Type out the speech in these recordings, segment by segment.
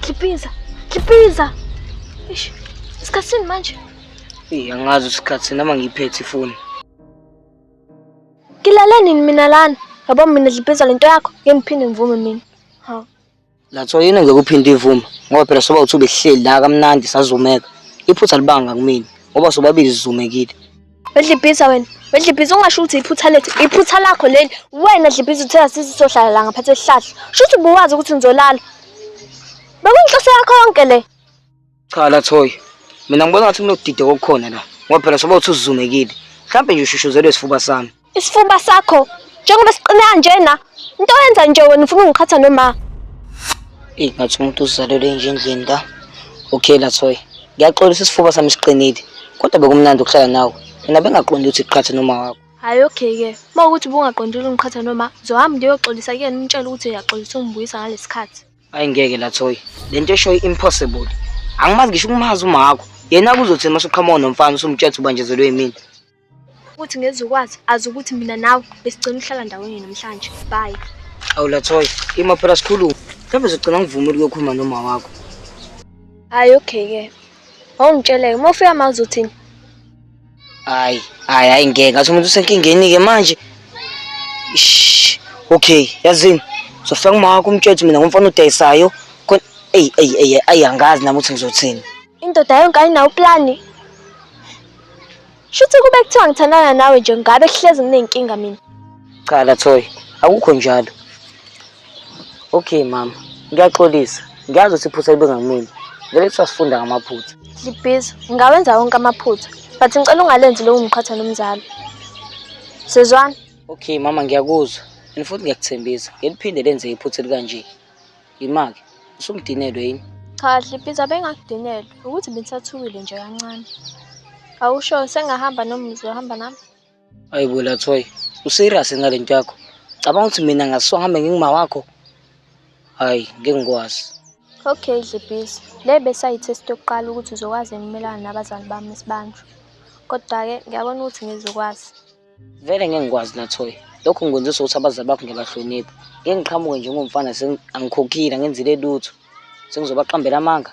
Kipinza, Kipinza. Eish, isikhathini manje. Eh, angazi isikhathi noma ngiphethe ifoni. Ngilale nini mina lana? Yabo mina dlibhiza lento yakho, ngeke ngiphinde ngivume mina. Ha. Latho yini ngeke uphinde ivume ngoba phela soba uthi ubehleli la kamnandi sazumeka. Iphutha libanga kumina ngoba sobabili sizumekile. Wedlibhiza wena, wedlibhiza ungasho ukuthi iphutha lethu, iphutha lakho leli. Wena dlibhiza uthe asisi sohlala la ngaphansi esihlahla. Shuthi ubuwazi ukuthi ngizolala. Bekuyinhloso yakho yonke le. Cha la Thoyi. Mina ngibona ngathi kunokudida kokukhona la. Ngoba phela soba uthi uzumekile. Mhlampe nje ushushuzelwe isifuba sami. Isifuba sakho njengoba siqine kanjena. Into yenza nje wena ufuna ungiqhatha noma. Eyi ngathi umuntu uzalelwe nje endlini la. Okay la Thoyi. Ngiyaxolisa isifuba sami siqinile. Kodwa bekumnandi ukuhlala nawe. Mina bengaqondi ukuthi iqhatha noma wakho. Hayi okay ke. Uma ukuthi ubungaqondile ungiqhatha noma zohamba ngiyoxolisa kuyena umtshela ukuthi uyaxolisa ungibuyisa ngalesikhathi. Ayi ngeke la Thoyi. Lento eshoyo impossible. Angimazi ngisho ukumazi umakho. Yena kuzothi uma usuqhamuka nomfana usumtshela ukuthi ubanjezelwe yimina. Ukuthi ngeze ukwazi azi ukuthi mina nawe besigcina ukuhlala ndawonye namhlanje. Bye. Awu la Thoyi, ima phela sikhulume. Mhlawumbe uzogcina ngivumile ukuyokhuluma noma wakho. Hayi okay ke. Awungitshele uma ufika manje uzothini? Hayi, hayi, hayi ngeke. Ngathi umuntu usenkingeni-ke manje. Ish. Okay, yazini. Sofika kumawakho umtshwethu mina ngumfana odayisayo. Khona eyi eyi eyi ayi angazi nami ukuthi ngizothini. Indoda yonke ayinawo uplani. Shuthi kube kuthiwa ngithandana nawe nje ngabe kuhlezi nginenkinga mina. Cha Lathoyi, akukho njalo. Okay mama, ngiyaxolisa. Ngiyazi ukuthi iphutha libe ngakumina. Ngeke kuthiwa sifunda ngamaphutha. Libhizi, ngawenza wonke amaphutha. But ngicela ungalenzi lowo mqhatha nomzalo. Sizwana? Okay mama, ngiyakuzwa. And futhi ngiyakuthembisa, ngeliphinde lenze iphutha elikanje. Yimake, usumdinelwe yini? Cha, Libhizi abengakudinelwe. Ukuthi bengisathukile nje kancane. Awusho sengahamba noma uzohamba nami? Ayi bo Lathoyi, userious yini ngale nto yakho? Cabanga ukuthi mina ngaswa ngihambe nginguma wakho? Hayi, ngeke ngikwazi. Okay Dlebhisi, le besayithesti yokuqala ukuthi uzokwazi yini ukumelana nabazali bami sibanjwe. Kodwa-ke ngiyabona ukuthi ngizokwazi. Vele ngeke ngikwazi Lathoyi. Lokho ngikwenzisa ukuthi abazali bakho ngiyabahlonipha. Ngeke ngiqhamuke nje ngomfana sengi- angikhokhile, angenzile lutho. Sengizobaqambela amanga.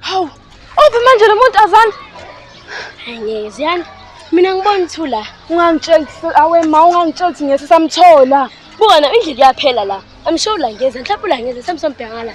Hawu, uphi manje lo muntu azani? Hayi ngeke ziyani. Mina ngibona uthu la. Ungangitsheli ukuthi awe ma ungangitsheli ukuthi ngeke samthola. Buka na indlela iyaphela la. I'm sure ulangeza, mhlawumbe ulangeza samsombheka ngala.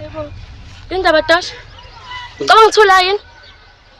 Yebo. Indaba Tasha. Ucabanga ukuthola yini?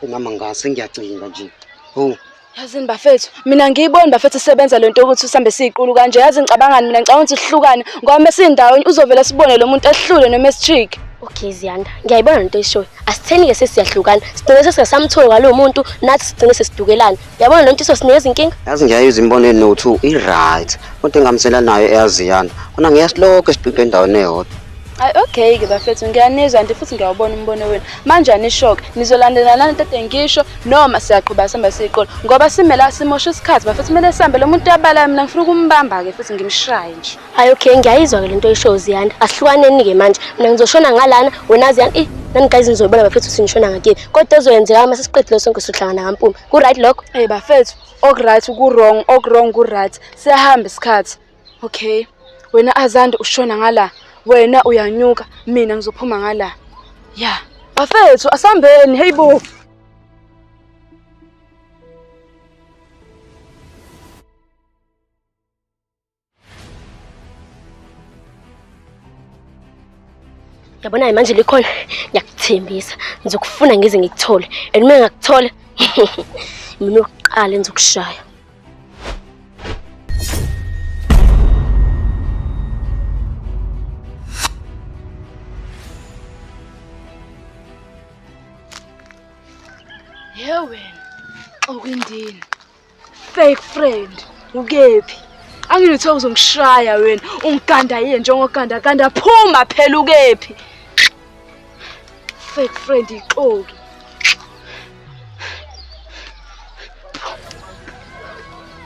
Umama ngase ngiyacinga nje. Ho. Yazini bafethu, mina ngiyiboni bafethu isebenza lento ukuthi usambe siyiqulu kanje. Yazi ngicabangani mina ngicabanga ukuthi sihlukane ngoba mase indawonye uzovela sibone lo muntu ehlule noma esitrick. Okay Ziyanda, ngiyayibona lento eshoyo. Asitheni ke sesiyahlukana. Sigcine sesingasamtholi kwalo muntu, nathi sigcine sesidukelana. Yabona lo ntshiso sinezinkinga. Yazi ngiyayizwa imibono enothi i-right kodwa engamsela nayo eyaziyana. Kona ngiyasilokho esibhibhe endaweni eyodwa. Ay okay ke bafethu ngiyanizwa nje futhi ngiyawubona umbono wenu. Manje anishoke nizolandelana lento ede ngisho noma siyaqhuba sihamba siyiqola ngoba simela simosha isikhathi bafethu kumele sihambe lo muntu uyabala mina ngifuna ukumbamba ke futhi ngimshaye nje. Hayi okay ngiyayizwa ke lento oyishoyo Ziyanda. Asihlukaneni ke manje. Mina ngizoshona ngalana wena Ziyanda. Eh nani guys nizoyibona bafethu sinishona ngakini. Kodwa ezoyenzeka uma sesiqedile sonke sohlangana kampumi. Ku right lokho? Eh bafethu ok right ku wrong ok wrong ku right. Siyahamba isikhathi. Okay. Wena Azande ushona ngala. Wena uyanyuka mina ngizophuma ngala. Yeah. Bafethu asambeni hey bo. Yabona-ke manje likhona ngiyakuthembisa ngizokufuna ngize ngikuthole and uma ngingakuthola mina oqala engizokushaya Ye wena okwindini Fake friend, ukephi? Angilithe uzongishaya wena, ungiganda yini njengoganda ganda phuma phela ukephi? Fake friend ixoki.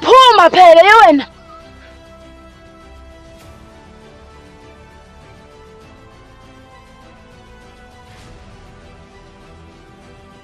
Phuma phela yewena.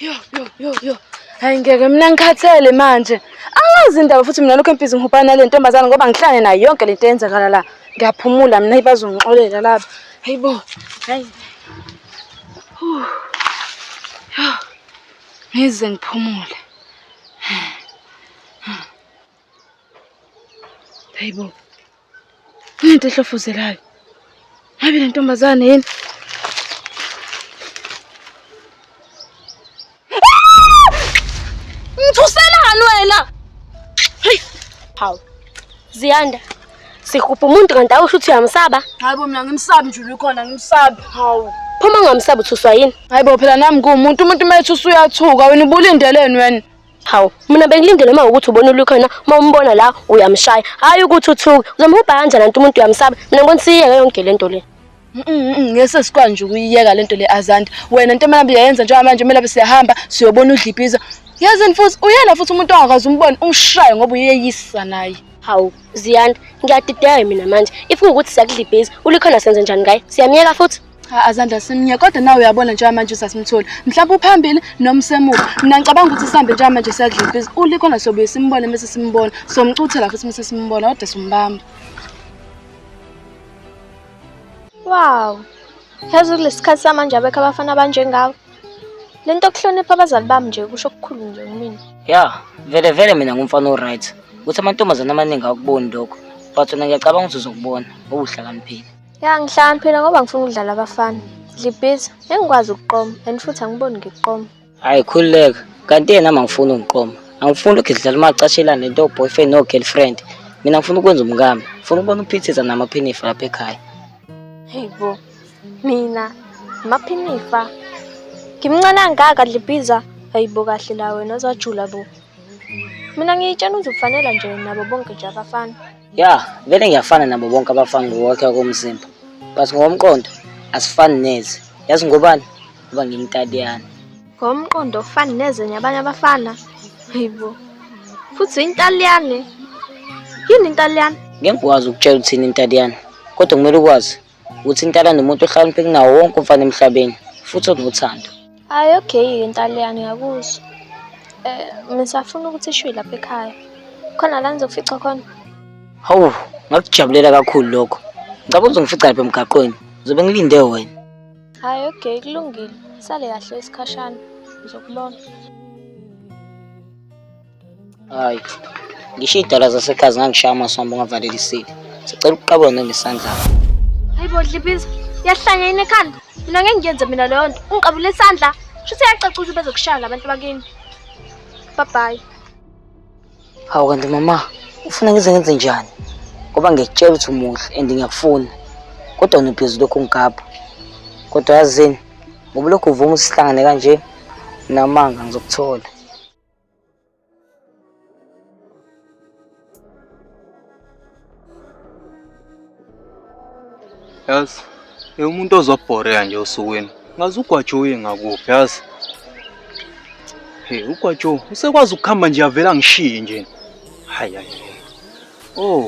Yo yo yo yo. Hayi ngeke mina ngikhathele manje. Angazi indaba futhi mina lokho emphizi ngihubhana nale ntombazana ngoba ngihlane nayo yonke le nto eyenzakala la. Ngiyaphumula mina ibazongixolela laba. Hayibo. Hayi. Ngize ngiphumule. Hayi bo. Into ehlofuzelayo. Hayi le ntombazane yini? Ngithuselani wena? Hey, hawu. Ziyanda. Sihupha umuntu kanti awusho ukuthi uyamsaba? Hayi bo mina ngimsabi nje ukhona ngimsabi. Hawu. Phuma ungamsabi uthuswa yini? Hayi bo phela nami kuwumuntu umuntu uma ethuswa uyathuka wena ubulindeleni wena? Hawu, mina bengilindele uma ukuthi ubona ulukhona uma umbona la uyamshaya. Hayi ukuthi uthuke. Uzomhubha kanjani anti umuntu uyamsaba. Mina ngibona siyeke yonke lento le. ngese sikwazi nje ukuyiyeka lento le azanti wena into emelaphi yayenza njengoba manje umelaphi siyahamba siyobona udlipiza yazini futhi uyena futhi umuntu ongakazi umbone umshaye ngoba uyeyisa naye hawu ziyanda ngiyadideka mina manje if kuwukuthi siyakudlibhiza ulikhona senze njani ngaye siyamyeka futhi Cha azandla simnye kodwa nawe uyabona njengoba manje usasimtholi. Mhlawumbe uphambili noma usemuva. Mina ngicabanga ukuthi sihambe njengoba manje siyadlula ibhizi. Uli khona sobuye simbone mese simbona. Somcuthela futhi mese simbona kodwa simbamba. Wow. Yazi kulesi sikhathi samanje abekho abafana abanjengawe. Le nto yokuhlonipha abazali bami nje kusho okukhulu nje kumina. Ya, vele vele mina ngumfana o-right. Ukuthi amantombazane amaningi akuboni lokho. But wena ngiyacabanga ukuthi uzokubona ngoba uhlakaniphile. Ya ngihlakaniphile ngoba ngifuna ukudlala abafana. Ngibhizi, engikwazi ukuqoma and futhi angiboni ngiqoma. Hayi khululeka. Kanti yena ama ngifuni ungiqoma. Angifuni lokhu sidlala umacashelana nento boyfriend no girlfriend. Mina ngifuna ukwenza umkami. Ngifuna ukubona uphithiza namaphinifa lapha ekhaya. Hey bo. Mina maphinifa. Ngimncane angaka dlibhiza. Hayibo kahle la wena uzajula bo. Mina ngiyitshena uzokufanela nje nabo bonke nje abafana. ya vele ngiyafana nabo bonke abafana ngokwakhe komzimba but ngokomqondo asifani neze yazi ngobani uba ngimtadiyana ngomqondo ofani neze nyabanye abafana hayibo futhi intaliyane yini intaliyane ngeke ngikwazi ukutshela uthini intaliyane kodwa kumele ukwazi uthintana nomuntu ohlakanipheke nawo wonke umfana emhlabeni futhi onothando hayi okay intaliyane ngiyakuzwa um eh, ngisafuna ukuthi ishiwe lapha ekhaya khona la ngizokufica khona hawu ngakujabulela kakhulu lokho ngicaba uzongifica lapha emgaqweni ngizobe ngilinde wena hayi okay kulungile sale kahle isikhashana ngizokubona Hayi. Ngisho idala zasekhaya zingangishaya amasomo ungavalelisile. Sicela ukuqabula nangesandla. Hayibo dlibiza. Yahlanya yini ekhanda? Mina ngeke ngiyenze mina leyo nto. Ungiqabule isandla. Shuthi yacaca ukuthi bezokushaya labantu bakini. Bye bye. Hawu kanti mama, ufuna ngize ngenze njani? Ngoba ngiyakutshela ukuthi umuhle and ngiyakufuna. Kodwa unibhizi lokhu ngigabha. Kodwa yazini, ngoba lokhu uvuma usihlangane kanje, namanga ngizokuthola. yazi umuntu ozobhoreka nje osukwini ngazi ugwajo uye ngakuphi yazi hey ugwajo usekwazi ukuhamba nje avela ngishiye nje hayi hayi oh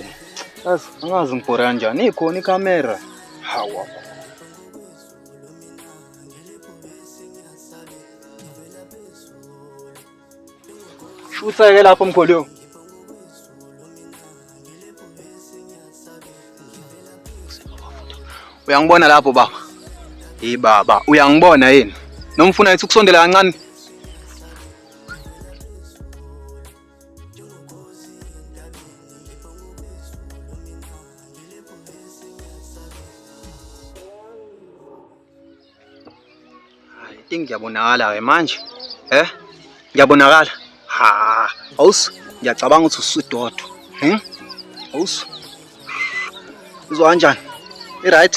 yazi angazi ngibhore kanjani ikhona ikhamera hawa Useke lapho mkholiwe. Uyangibona lapho baba. Hey baba, uyangibona yini? Nomfuna ethi ukusondela kancane. think ngiyabonakala-ke manje eh ngiyabonakala ha awusi ngiyacabanga ukuthi usudodo hmm? awusi uzwa kanjani i-right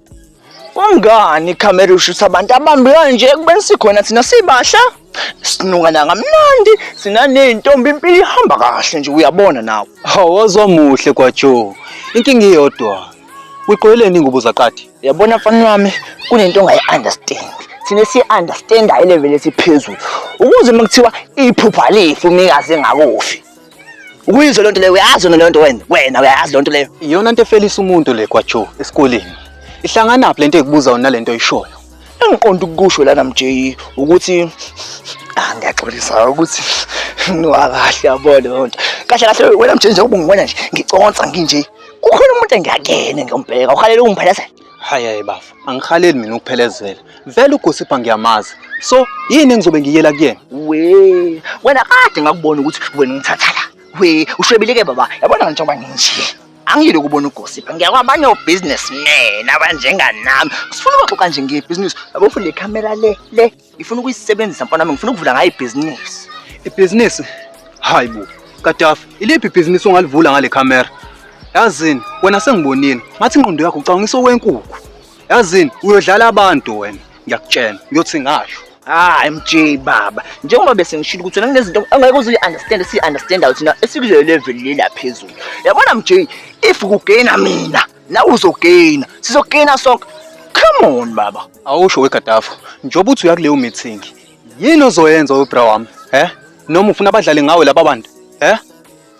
Kungani ikhamera ushutha abantu abambi kanje kubeni sikhona thina sibahla sinuka nangamnandi sinaney'ntombi impilo ihamba kahle nje uyabona nawe Awazwa muhle kwaJoe. Inkinga iyodwa. Uyiqoyeleni ingubo zaqadi? yabona mfana wami kunento ongayi-understand thina siyi-understandayo ileveli esiphezulu ukuze uma kuthiwa iphupha lifu umnikazi engakufi Ukuyizwa lento leyo uyazi yona lento wena wena uyazi lento leyo. Iyona into efelisa umuntu le kwaJo esikoleni. Ihlangana phi lento ekubuza wona lento oyishoyo? Engiqonda ukusho lana MJ ukuthi ah ngiyaxolisa ukuthi niwakahle yabo leyo nto. Kahle kahle wena MJ njengoba ungibona nje ngiconsa nginje. Kukhona umuntu engiyakene ngiyombheka uhalela ungiphelezela. Hayi hayi bafo, angihaleli mina ukuphelezela. Vele uGosipha ngiyamazi. So, yini engizobe ngiyela kuyena? We, wena kade ngakubona ukuthi wena ungithatha la. We, ushwebile ke baba. Yabona ngitsho njengoba nginje. Angiyile ukubona uGosipha. Ngiyakwabanye obusinessmen abanjenganami. Sifuna ukuxoxa nje ngebhizinisi. Yabo futhi le camera le le ngifuna ukuyisebenzisa mfana wami ngifuna ukuvula ngayo ibhizinisi ibhizinisi hayi bo kadafi iliphi ibhizinisi ongalivula ngale camera yazini wena sengibonile ngathi ingqondo yakho ucabangisa okwenkukhu yazini uyodlala abantu wena ngiyakutshena ngiyothi ngasho hayi mj baba njengoba bese ngishilo ukuthi wena kunezinto angeke uze uyi-understand siyi-understandayo thina esikule level lela phezulu yabona mj if kugaina mina na uzogaina sizogaina sonke come on baba awusho wegadafo njengoba uthi uya kuleyo meeting yini ozoyenza webra wami he noma ufuna abadlale ngawe laba bantu he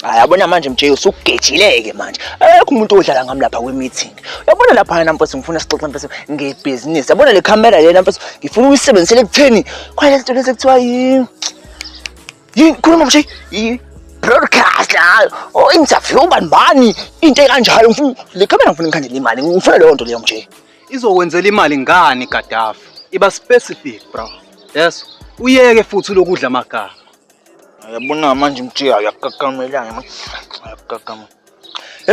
hayi abona manje mjeyo usugejileke manje akekho umuntu odlala ngami lapha kwi-meeting uyabona lapha na mfethu ngifuna sixoxe mfethu ngebhizinisi yabona le camera lena mfethu ngifuna uyisebenzisele ekutheni khona lento lezi kuthiwa yini Yini khuluma mshe i broadcast la o interview bani bani into ekanjalo ngifuna le camera ngifuna ngikhandele imali ngifuna leyo nto leyo mshe. Izokwenzela imali ngani Gaddafi? Iba specific bro. Yes. Uyeke futhi lokudla amagama. Yabona manje mthiya uyakakamelana. Uyakakamelana.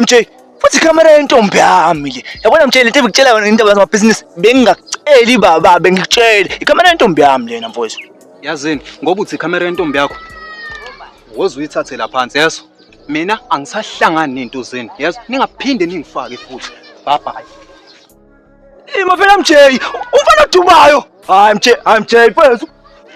MJ futhi ikhamera yentombi yami le yabona mtshele lento ebikutshela yona indaba zamabhizinisi bengingakuceli baba bengikutshele ikhamera yentombi yami lena mfowethu yazini ngoba uthi ikhamera yentombi yakho woze uyithathela phansi yeso mina angisahlangani nento zenu yeso ningaphinde ningifake futhi bye bye Imafela MJ, umfana odumayo. Hayi MJ, hayi MJ mfethu.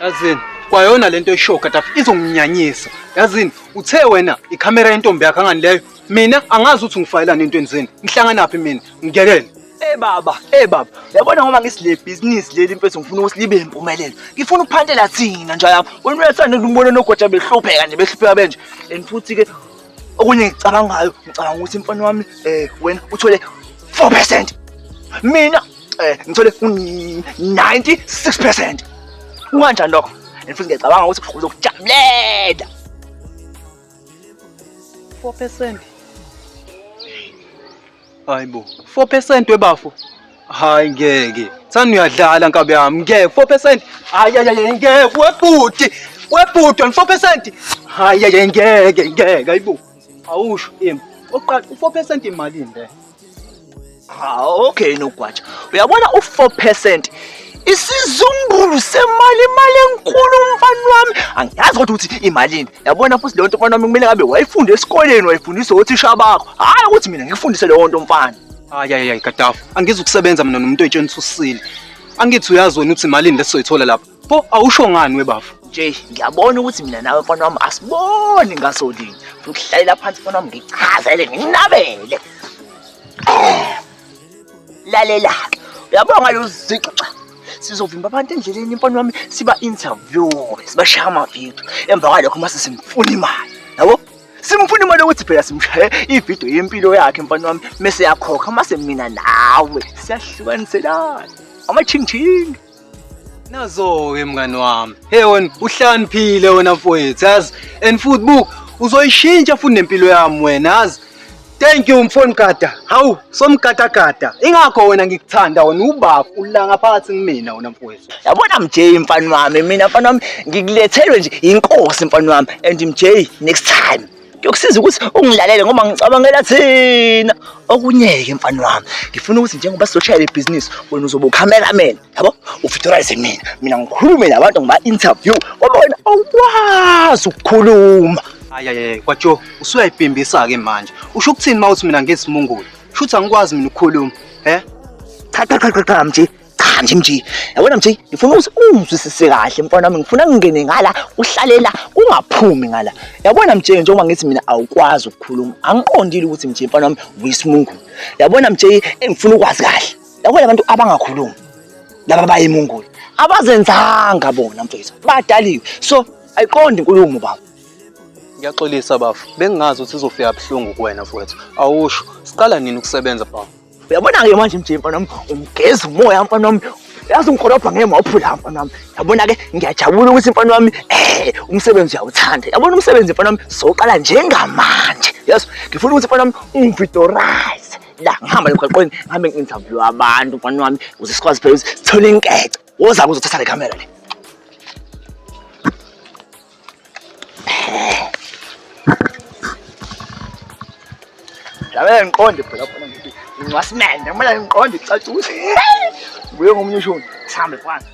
Yazini, kwayona lento eshow katafu izonginyanyisa. Yazini, uthe wena ikhamera yentombi yakhe angani leyo. Mina angazi ukuthi ngifayelana entweni zenu. Ngihlanganaphi mina? Ngiyekele. Eh baba, eh baba. Yabona ngoba ngisile business leli mfethu ngifuna ukuthi libe impumelelo. Ngifuna ukuphantela thina nje lapha. Wena uyathanda ukumbona nogoja behlupheka nje behlupheka benje. And futhi ke okunye ngicabangayo ngicabanga ukuthi imfana wami eh wena uthole 4% mina eh ngithole u96% unganjani lokho and futhi ngiyacabanga ukuthi uzokujabulela 4% Hayi bo. 4% webafo. Hayi ngeke. Sani uyadlala nkabe yami. Ngeke 4%. Hayi hayi ngeke webhuti. Webhuti 4%. Hayi hayi ngeke ngeke hayibo. Awusho im. Oqala u4% imalini le? Ah okay nogwatsha. Uyabona u4% isizumbulu semali imali enkulu mfana wami. Angiyazi kodwa ukuthi imalini. yabona futhi leyo nto mfana wami kumele ngabe wayifunde esikoleni wayifundisa othisha bakho hhayi ukuthi mina ngikufundise leyo nto mfana hayi hayi hayi kadafu angizi ukusebenza mina nomuntu oyitsheni ususile angithi uyazi wena ukuthi malini lesizoyithola lapha pho awusho ngani webafo nje ngiyabona ukuthi mina nawe mfana wami asiboni ngaso linye futhi uhlalela phansi mfana wami ngichazele nginabele lalela uyabonga luzixa sizovimba abantu endleleni imfana wami siba interview sibashaya amavidiyo emva kwalokho uma sesimfuna imali yabo simfuna imali yokuthi phela simshaye ividiyo yempilo yakhe mfana wami mese yakhokha uma semina nawe siyahlukaniselana amachingchingi nazo-ke mngani wami he wena uhlaniphile wena mfowethu yazi and futhi buka uzoyishintsha futhi nempilo yami wena yazi thank you mfoni gada hawu somgadagada ingakho wena ngikuthanda wena ubaba ulanga phakathi kumina wena mfowethu yabona mj mfana wami mina mfana wami ngikulethelwe nje inkosi mfana wami and mj next time kuyokusiza ukuthi ungilalele ngoba ngicabangela thina okunye-ke mfana wami ngifuna ukuthi njengoba sizoshayela ibhizinisi wena uzobe ucameraman yabo ufitorise mina mina ngikhulume nabantu ngiba-interview ngoba wena awukwazi ukukhuluma ayaye kwatsho usuyayibhimbisa-ke manje usho ukuthini uma uthi mina ngesimungulu shuthi angikwazi mina ukukhuluma he cha cha cha cha mnje cha nje mji yabona mji ngifuna ukuthi ungizwisise kahle mfana wami ngifuna ngingene ngala uhlalela ungaphumi ngala yabona mji njengoba ngithi mina awukwazi ukukhuluma angiqondile ukuthi mji mfana wami uyisimungulu yabona mji engifuna ukwazi kahle yabona abantu abangakhulumi laba bayimungulu abazenzanga bona mfethu badaliwe so ayiqondi inkulumo baba ngiyaxolisa bafo bengingazi ukuthi izofika buhlungu kuwena mfowethu awusho siqala nini ukusebenza bafo Uyabona-ke manje mje mfana wami ungigeza umoya mfana wami yazi ungikolobha ngeke mawuphula mfana wami yabona-ke ngiyajabula ukuthi mfana wami eh umsebenzi uyawuthanda yabona umsebenzi mfana wami soqala njengamanje yes ngifuna ukuthi mfana wami ungividorize la ngihamba emgaqweni ngihambe ngi-interview abantu mfana wami ukuze sikwazi phela ukuthi sithole inkece woza-ke uzothatha le kamera le Labe ngiqonde phela khona ngithi ngwasimende kumele ngiqonde icacuse. Kuye ngomunye ushuni. Sihambe kwanza.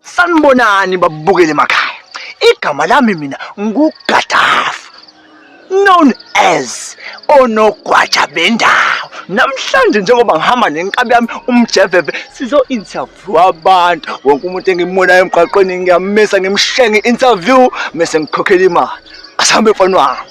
Sanibonani babukele emakhaya. Igama lami mina nguGadafi known as onogwaja bendawo. Namhlanje njengoba ngihamba nenkabi yami umjeveve sizo interview abantu wonke umuntu engimonayo emgwaqweni ngiyamisa ngimshenga interview mese ngikhokhela imali. Asambe mfana wami.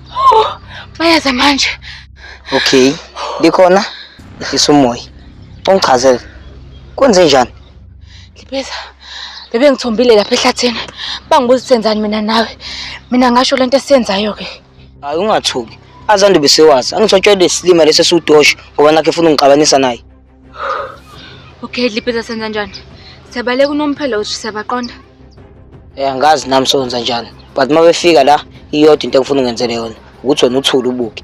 Bayaza manje. Okay. Likhona lifisa umoya. Ungichazele. Kwenze njani? Libeza. Bebe ngithombile lapha ehlathini. Bangibuza senzani mina nawe. Mina ngasho lento esiyenzayo ke. Hayi ungathuki. Azandu besewazi. Angitshotshwe lesilima lesi esiwudosha ngoba nakhe efuna ungixabanisa naye. Okay, Dliphiza senza njani? Siyabaleka unomphelo uthi siyabaqonda. Eh angazi nami sonza njani. But uma befika la iyodwa into engifuna ungenzele yona ukuthi wena uthule ubuke.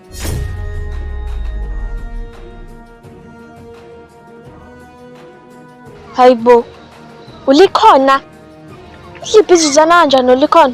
Hayibo. Ulikhona. Liphi izizana kanjani ulikhona?